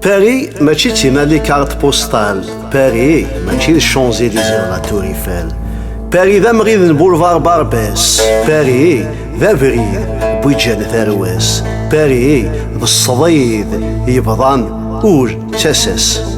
Paris mačči d timali carte postale. Paris mačči d Champs-Élysées la Tour Eiffel. Paris d amɣid n boulevard Barbès. Paris d abrid bu ǧǧan tarwa-s. Paris d ṣṣdid yebḍan ur d tasa-s.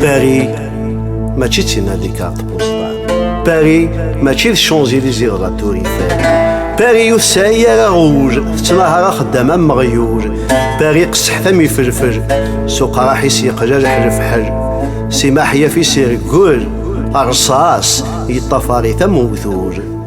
Paris mačči d tinadikart postal Paris mačči d Champs-Élysées de la Tour Eiffel Paris ur tesɛi ara rouj tettnahar axeddam am meɣyuj Paris qesseḥt am ifelfel s uqraḥ-is yeqlal ḥlefḥel si maḥyaf-is irgel rṣas yeṭṭafar-it am ugdud